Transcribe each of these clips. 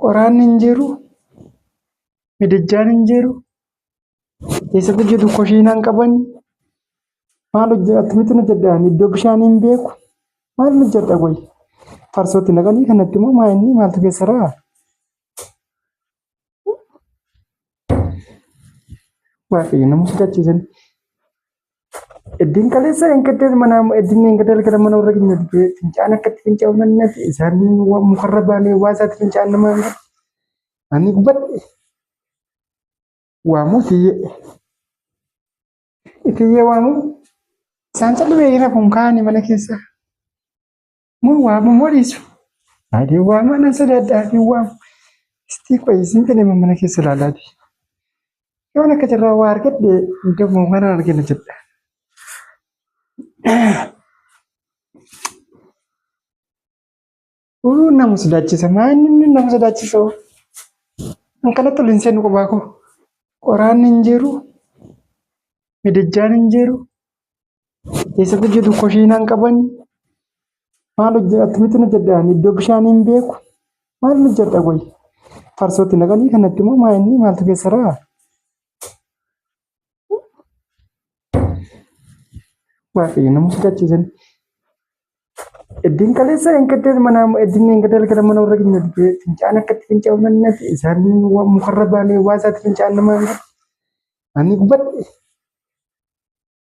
Qoraan hin jiru, midijjaan hin jiru, eessatti hojjetu kushiinaa hin qaban. Maal hojjedha akkamittin hojjedha ani iddoo bishaanii hin beeku maalin hojjedha qoyi. Farsoo itti naqanii kanatti immoo maa inni maaltu keessa jiraa? Waaqayyo nama sodaachise. Eddiin kaleessa hin gaddees mana eddiin hin gaddees gara mana warra keenya dhufee fincaan akkatti finca'u nan nati isaan waan mukarra baanee waa isaatti fincaan nama hin gadhe. Ani gubadhe waamuu itiyyee itiyyee waamuu isaan callimee hin hafuun kaa'anii mana keessa. Moo waamu moo dhiisu? Ani waama nan sodaadhaa hin waamu. Istii qoyi isin kan immoo mana keessa ilaalaati. Yoon akka jirraa waa argadhe gamoo mana argina jedha. Uu nama sodaachisa maanni inni nama sodaachisa oo. Kan kanatti ol hin seenu qubaa koo. Qoraan hin jiru. Midijjaan hin jiru. Keessa hojjetu koshiinaan qaban maal hojjeta akkamitti hojjedha iddoo bishaan hin beeku maal hojjedha qoyi farsootti naqanii kanatti immoo maa inni maaltu keessa ra'a waaqayyo nama sodachiisan eddiin kaleessa hin gaddeen mana eddiin hin gaddeen gara mana warra keenya dhufee fincaan akkatti finca'u nannatti isaan mukarra baanee waa isaatti fincaan namaan ani gubbadhe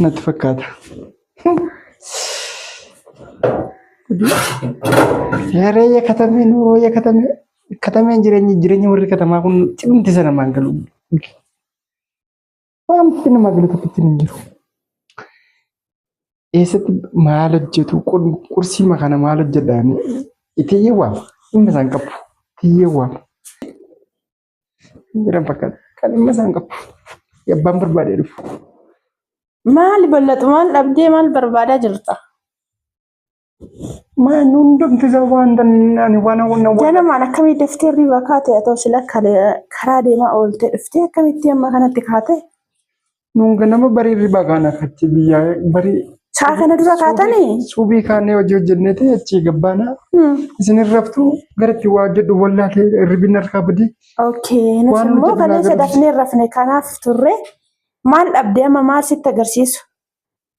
natti fakkaata. Seeree yakatamee nuuroo yakatamee katameen jireenyi jireenyi warri katamaa kun cimti sana maan galu. Wanti nama galu tokkotti hin jiru. Eessatti maal hojjetu qursii makana maal hojjedhaani itiyyee waama dhimma isaan qabu itiyyee waama. Jiran fakkaata. Kan dhimma isaan qabu. Yabbaan barbaadee dhufu. Maali bal'atu maal dhabdee maal barbaadaa jirta? Maan hundumti isaa waan ani waan hawwanna waan. Ganamaan akkamii daftee hirriba kaate atoo sila karaa deemaa ooltee dhuftee akkamitti amma kanatti kaate? Nuun ganama barii hirribaa kaana achi biyyaa barii. Sa'a kana dura kaatanii? Suubii kaanee hojii hojjenneeti achii gabbaana. Hmm. Isin raftu garatti waa jedhu wallaalee hirribin harkaa badii. Okay. Nuti Waan immoo nuti kaleessa biraa dafnee rafne kanaaf turre. Maal dhabde amma maal sitti agarsiisu?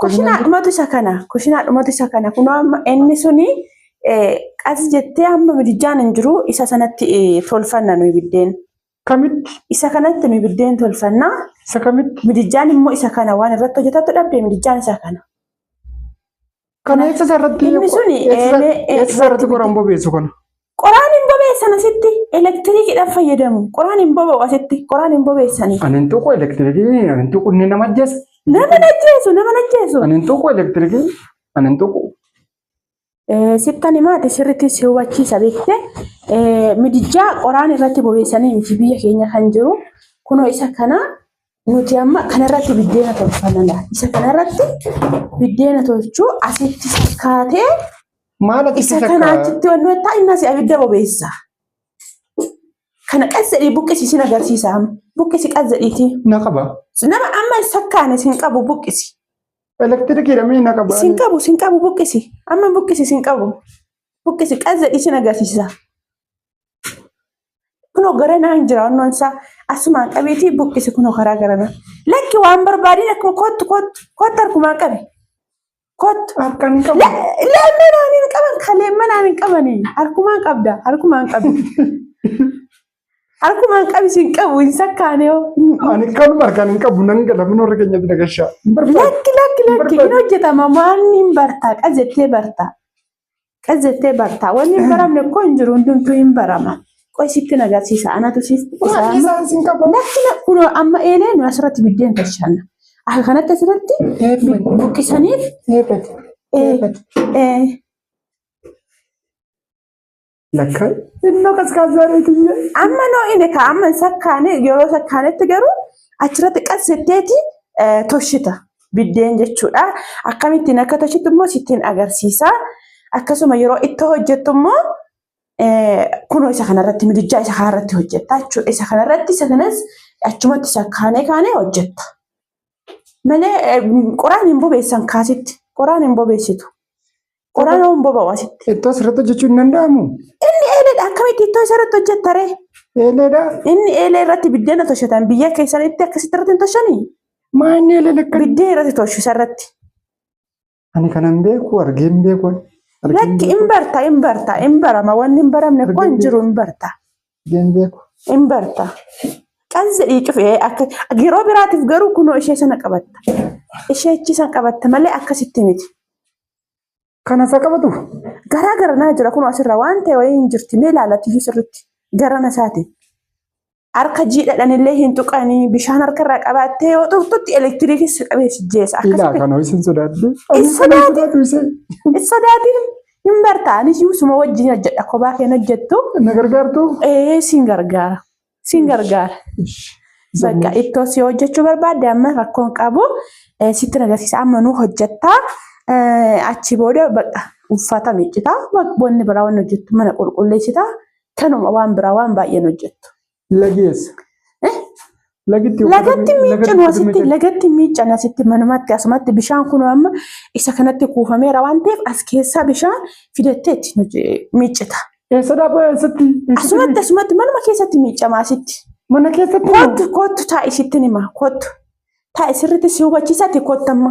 Kushinaa dhumatu isa kana. Kushinaa dhumatu isa kana. Kunoo amma inni suni qas jettee amma midijjaan hin jiru isa sanatti tolfanna nuyi biddeen. Kamitti? Isa kanatti nuyi biddeen tolfanna. Isa kamitti? Midijjaan immoo isa kana waan irratti hojjetattu dhabde midijjaan isa kana. Kana eessa irratti inni suni eessa irratti goran bobeessu kana? Qoraan hin bobeessan asitti elektiriikidhaan fayyadamu. Qoraan hin boba'u asitti qoraan hin bobeessani. Ani hin tuqu elektiriikii ani hin tuqu inni nama ajjeessa. Nama hin ajjeesu nama hin ajjeesu. Ani hin tuqu elektiriikii ani hin tuqu. Sittan himaati sirriitti si hubachiisa beekte midijjaa qoraan irratti bobeessanii miti biyya keenya kan jiru kunoo isa kana Nuti amma kanarratti biddeena tolfana laa. Isa kanarratti biddeena tolchuu asitti fakkaatee Maal akka isa kana achitti wanni wayittaa inni asii abidda bobeessa. Kana qas jedhii buqqisi sin agarsiisa amma. Buqqisi qas jedhiitii. Na qaba. Nama amma hin sakkaane sin qabu buqqisi. Elektirikiidha mee na qaba. Sin qabu sin qabu buqqisi. Amma buqqisi sin qabu. Buqqisi qas jedhii sin agarsiisa. Kunoo gara naa hin jira wannoon isaa asumaan qabeetii buqqise kunoo karaa gara naa. Lakki waan barbaadin akkuma kottu kottu kottu harkumaan qabe. Kottu. Harkaan hin qabu. Leemmee naan hin qaban ka leemmee naan hin qabani harkumaan qabda harkumaan qabi. Harkumaan qabi sin qabu hin sakkaane hoo. Ani kan harkaan hin qabu nan gala min warra keenyatti na gashaa. Hin barbaadu. Lakki lakki lakki hin hojjetama maanni hin bartaa qajettee bartaa. Qas jettee barta. Wanni hin baramne koo hin jiru hundumtuu hin barama. Qoy sitti na agarsiisa. Anatu siif Waan isaan sin qabu. Lakki na kunoo amma eelee nu asirratti biddeen tolchanna. Akka kanatti asirratti Eebbati. buqqisaniif Eebbati. eh, Eebbati. eh, Lakka innoo qaskaazaa reetiyyee. Amma noo inni ka amma hin sakkaane yeroo sakkaanetti garuu achirratti qassitteeti eh, toshita biddeen jechuudha. Akkamittiin akka toshitu immoo sittiin agarsiisa. Akkasuma yeroo itti hojjettu immoo eh, kunoo isa kanarratti midijjaa isa kanarratti hojjetta jechuudha. Isa kanarratti isa kanas achumatti sakkaanee kaanee hojjetta. Malee eh, qoraan hin bobeessan kaasitti. Qoraan hin bobeessitu. Qoraan hoo hin boba'u asitti. Ittoo asirratti hojjechuun hin danda'amu. Inni eeleedha akkamitti ittoo isa irratti hojjetta ree? Eeleedha. Inni eelee irratti biddeena toshatan biyya keessanitti akkasitti irratti hin toshanii? Maa inni eelee lakkan. Biddeen irratti toshu isa irratti. Ani kanan beeku argee hin beeku. Argee hin Lakki beeku. hin barta hin barta hin barama wanni hin baramne koo hin jiru hin barta. Argee hin beeku. hin barta. Qas jedhii cufee akka yeroo biraatiif garuu kunoo ishee sana qabatta. Ishee achi sana qabatta malee akkasitti miti. Kana isa qabatu. Garaa gara naa jira kunoo asirra waan ta'e wayii hin jirti mee ilaalatiyyuu sirritti garana isaatiin. harka jiidhadhanillee hin tuqanii bishaan harka irraa qabaattee yoo tuqxutti elektiriikii si qabee si jeessa. Ilaa Akkasitti kana isin sodaadde. Hin sodaatu. sodaatu isin. hin sodaatin hin barta anis suma wajjin hojjedha kophaa keen hojjettu Na gargaartu. ee siin gargaara siin gargaara. Bakka ittoo si hojjechuu barbaadde amma rakkoon qabu eh, sitti agarsiisa amma nu hojjettaa eh, achi booda bakka uffata miiccita wanni biraa wanni hojjettu mana qulqulleessita Tanuma waan biraa waan baay'een hojjettu. Lagi eessa? Eh? Lagitti Lagatti uffata- miiccan uffata asitti miiccan. lagatti miiccan asitti manumatti asumatti bishaan kun amma isa kanatti kuufameera waan ta'eef as keessaa bishaan fidattee itti nuti miiccita. Eessa dhaabaa eessatti? Eessatti Asumatti miicca? asumatti manuma keessatti miiccama asitti. Mana keessatti moo? Kottu kottu taa'i sittin hima kottu. Taa'i sirriitti si hubachiisatti kottu amma.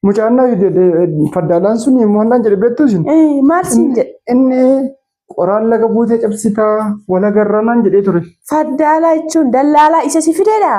Mucaan na faddaalaan sun immoo naan jedhe beektu isin. Maal siin jedhe? Inni qoraan laga buutee cabsitaa walagarraa naan jedhee ture. Faddaalaa jechuun dallaalaa isa si fideedha?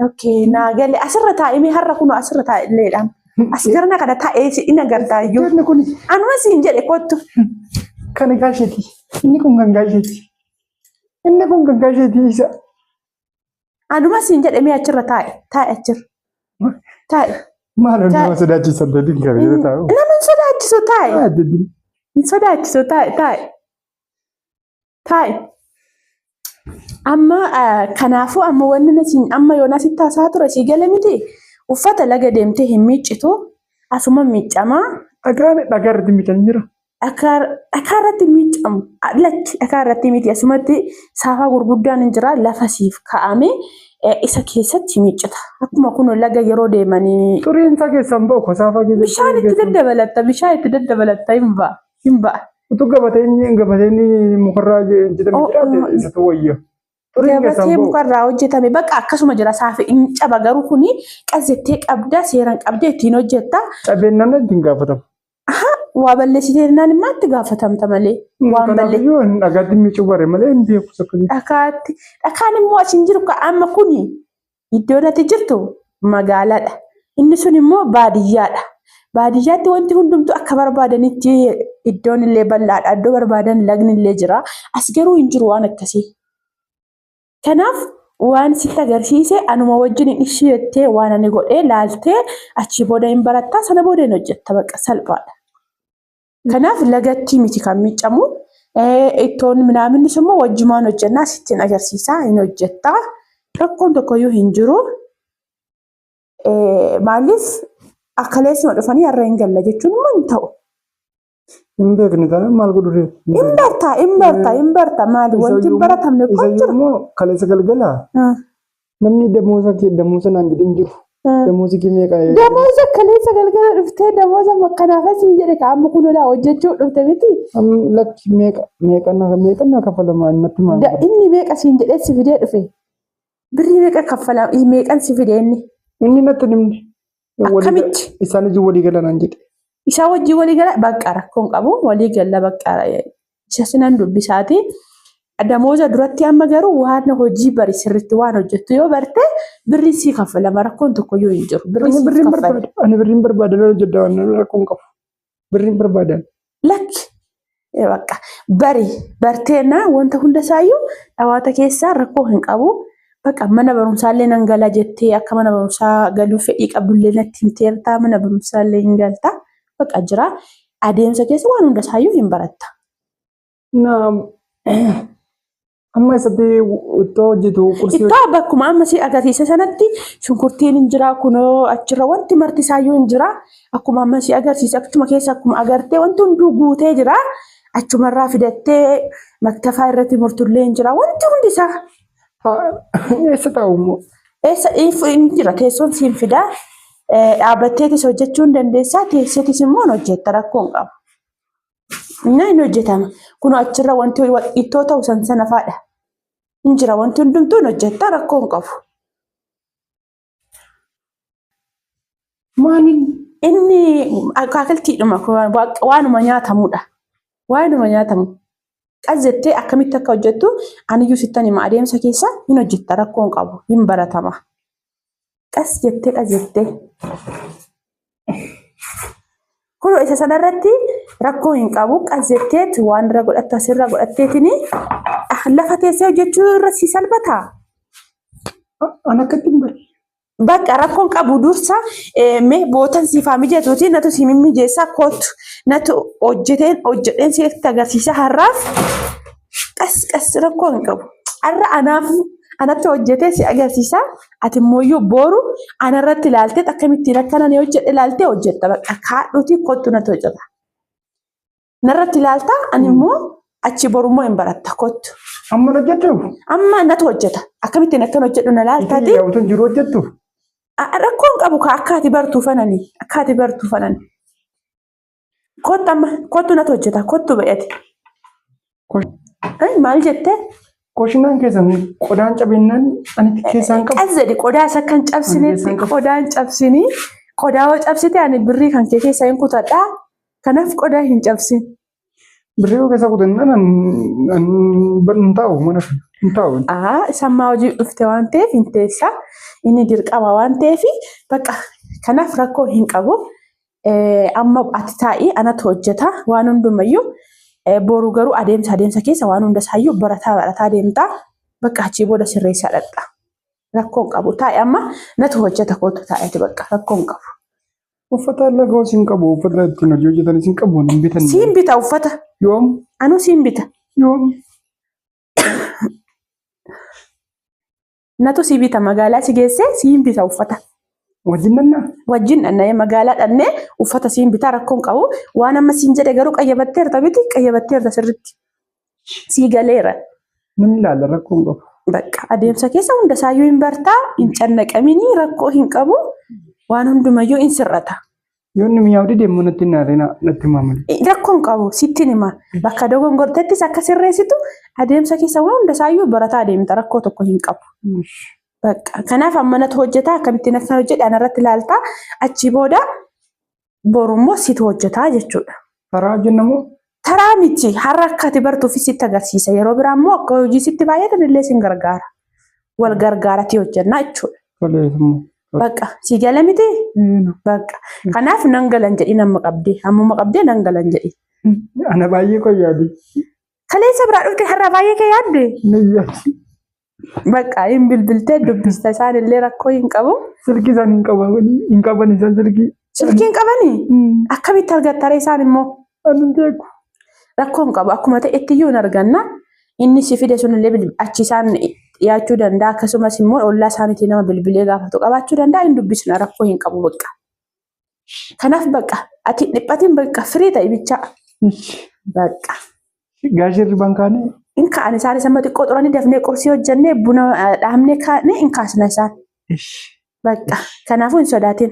Ookee naa galee asirra taa'imee har'a kunoo asirra taa'illeedhaan. As garana kana taa'ee si in agartaa iyyuu. Inni kun Anuma siin jedhe kottu. kan gaasheeti. Inni kun kan gaasheeti. Inni kun kan gaasheeti isa. Anuma siin jedhe mee achirra taa'e taa'e achirra taa'e. Maal on nama sodaachisa dadin gabe yoo taa'u. Nama hin sodaachisu taa'e Ah, dadin. hin sodaachisu taa'e taa'e taa'e. Amma ah, kanaafuu amma wanni na siin amma yoona sitti haasaa ture sii gale miti uffata laga deemtee hin miiccitu asuma miiccamaa Dhagaan dhagaa irratti miidhan jira. dhakaa dhakaa irratti miiccamu lakki dhakaa irratti miti asumatti saafaa gurguddaan hin jira lafa siif kaa'ame eh, isa keessatti miiccita akkuma kun laga yeroo deemanii Xuriin isaa keessaan ba'u ko saafaa keessatti. bishaan itti daddabalatta bishaan itti daddabalatta hin ba'a hin ba'a Utuu gabateen gabateen mukarraa jedhamu Oh, oh. jiraate isa ta'u wayya. Xuriin keessaan gabatee ba'u. mukarraa hojjetame bakka akkasuma jira saafi hin caba garuu kuni qazzettee qabda seeran qabda ittiin hojjetta Cabeen naannoo ittiin gaafatamu. Aha waa balleessite jennaan immoo itti gaafatamta malee waan Kanaaf balleessite. iyyuu ani dhagaatti miicuu bare malee hin beeku sakkanii. Dhakaatti dhakaan immoo asin jiru ka amma kuni iddoon ati jirtu magaaladha. Inni sun immoo baadiyyaadha. Baadiyyaatti wanti hundumtuu akka barbaadanitti iddoon illee bal'aadha. Iddoo barbaadan lagni illee jira. As garuu hin jiru waan akkasii. Kanaaf waan sitti agarsiise anuma wajjin hin ishii jettee waan ani godhee laaltee achii booda hin barattaa sana booda hin hojjetta baqa salphaadha. Kanaaf lagattii miti kan miiccamu ittoon minaaminnis immoo wajjumaan hojjennaa sitti hin agarsiisaa hin hojjettaa rakkoon tokkoyyuu hin jiru. Maaliif akkaleessuma dhufanii har'a hin galla jechuun immoo hin ta'u. Hin beekne taanaan maal godhu ree? Hin barta, hin barta, hin barta. Maali wanti hin baratamne kun Isa jira. immoo kaleessa galgala Ah, namni damoosa kee damoosa naan jedhin jiru. ah. Damoosi kee meeqa? Damooza kaleessa galgala dhuftee damooza makkanaaf asiin jedhe ka amma kun olaa hojjechuu dhufte miti. Am lakki meeqa meeqa na meeqa na kafalamaa natti maal? Da- Inni meeqa siin jedhee si fidee dhufe. Birrii meeqa kaffalaa? Ih, Meeqan si fide inni? Inni natti hin himne. Walii gala- Akkamitti? Isaan ijji walii gala naan jedhe. Isaa wajjin walii gala bakka rakkoon qabu walii galla bakka isa sinan dubbisaati. Damooza duratti amma garuu waan hojii bari sirriitti waan hojjettu yoo barte birrii sii kaffalama rakkoon tokkoyyuu hin jiru. Birrii Ani siif birriin kaffala. barbaada. Ani birriin barbaada lola jedha waan rakkoon qabu. Birriin barbaadan. Lakki. Eh, Bakka bari barteennaa wanta hunda isaayyuu dhawaata keessaa rakkoo hin qabu. Bakka mana barumsaallee nan gala jettee akka mana barumsaa galuuf fedhii qabdullee natti himteerta mana barumsaallee hin galta. Bakka jira adeemsa keessa waan hunda isaayyuu hin baratta. Naam. Amma isatti ittoo hojjetu qursii Ittoo bakkuma amma si agarsiise sanatti shunkurtiin hin jira kunoo achirra wanti marti isaayyuu hin jira. Akkuma amma si agarsiise achuma keessa akkuma agartee wanti hunduu guutee jira. Achumarraa fidattee maktafaa irratti murtullee hin jira wanti hundi isaa. hojjetu. Eessa taa'u immoo? Eessa if- hin jira teessoon siin fidaa. Eh, Dhaabbatteetis hojjechuu hin dandeessaa teesseetis immoo hin hojjetta rakkoo hin qabu. Inni hin hojjetama. Kun achirra wanti ittoo ta'u san sana faadha. Hin jira wanti hundumtuu hin hojjetta rakkoo hin qabu. Maaliin inni akaakiltiidhuma waanuma nyaatamudha. Waanuma nyaatamu. Qas jettee akkamitti akka hojjettu aniyyuu sittan hima adeemsa keessa hin hojjetta rakkoo hin qabu hin baratama. qas jettee qas jettee kun isa sanarratti rakkoo hin qabu qas jetteet waan irra godhattu asirra godhatteetini lafa teessee hojjechuu irra si salphata. An akkatti hin barre. Bakka rakkoon qabu dursa mee bootan siifaa mijatuuti natu si mimmijeessaa kootu natu hojjeteen hojjedheen sitti agarsiisa har'aaf qas qas rakkoo hin qabu. Har'a anaaf anatti hojjetee si agarsiisa. Ati immoo iyyuu booru ana irratti ilaaltee akkamittiin akka nan hojjedhe ilaaltee hojjetta bakka kaadhuutii kottu natti hojjeta. Narratti ilaalta ani immoo achi boru immoo hin baratta kottu. Amma hojjettu? Amma natti hojjeta akkamittiin akkan hojjedhu na ilaaltaati. Yaa utuun jiru hojjettu? Rakkoon qabu kaa akkaati bartuu fanani akkaati bartuu fanani. Kottu amma kottu natu hojjeta kottu ba'eeti. Kosh- Maal jettee? Koshinaan keessan qodaan cabeennaan anitti keessaan qabu. Qas jedhi qodaa isa kan cabsinetti qodaa hin cabsini. Qodaa yoo cabsite ani birrii kan kee keessaa hin kutadha. Kanaaf qodaa hin cabsin. Birrii yoo keessaa kutannaan an- an bar- hin taa'u mana fi hin taa'u. Aa sammaa hojii dhufte waan ta'eef hin teessa. Inni dirqama waan ta'eef bakka kanaaf rakkoo hin qabu. Amma ati taa'ii anatu hojjeta waan hundumayyuu boru garuu adeemsa adeemsa keessa waan hunda isaayyuu barataa barataa deemtaa bakka achii booda sirreessaa dhaqxa. Rakkoon qabu taa'e amma natu hojjeta kootu taa'eeti bakka rakkoon qabu. Uffata lagaos hin qabu. Uffata ittiin hojii hojjetanis hin qabu. Hin bitan. Siin bita uffata. Yoom? Anuu siin bita. Yoom? Natu si bita magaalaa si geessee siin bita uffata. Wajjin dhannaa? Wajjin dhanna'ee magaalaa dhannee uffata siin bitaa rakkoon qabu. Waan amma siin jedhe garuu qayyabatteerta miti qayyabatteerta sirritti. Sii galeera. Nan ilaala rakkoon qabu. Bakka adeemsa keessa hunda isaayyuu hin bartaa hin cannaqaminii rakkoo hin qabu waan hundumayyuu hin sirrata. Yoo inni mi'aawu dide immoo natti hin naarree na- natti himaa malee. Eh, Rakkoon qabu sittin hima. Bakka dogongortettis akka sirreessitu adeemsa keessa waan hunda isaayyuu barataa adeemta rakkoo tokko hin qabu. Bakka kanaaf ammanatu hojjetaa akkamittiin akkan hojjedhe anarratti ilaaltaa achii booda boru immoo situ hojjetaa jechuudha. Taraa jenna moo? Taraa miti har'a akka ati bartuuf sitti agarsiisa. Yeroo biraa immoo akka hojii sitti baay'atan illee sin gargaara. Wal gargaaratii hojjannaa jechuudha. Toleef immoo. Bakka si gala miti? Eenu. Bakka. Kanaaf nan galan jedhi nama qabdee. Ammuma qabdee nan galan jedhi. Ana baay'ee qoyyaadii. Kaleessa biraa dhufte har'a baay'ee kee yaadde? Niyyaati. Bakka hin bilbiltee dubbista isaan illee rakkoo hin qabu. Silkii isaan hin qaban hin qaban isaan silkii. Silkii hin qabanii? Akkamitti argattare isaan immoo? Ani hin beeku. Rakkoo hin qabu akkuma ta'etti iyyuu hin arganna. Inni si fide sun illee bilbil- achi isaan dhiyaachuu danda'a akkasumas immoo ollaa isaaniitii nama bilbilee gaafatu qabaachuu danda'a hin dubbisna rakkoo hin qabu bakka. Kanaaf bakka ati dhiphatiin bakka firii ta'i bichaa. Bakka. Gaashee irribaan kaane. In ka'an isaan isa xiqqoo xuranii dafnee qursii hojjannee buna dhaabnee kaanee in kaasna isaan. Bakka. Kanaafuu hin sodaatin.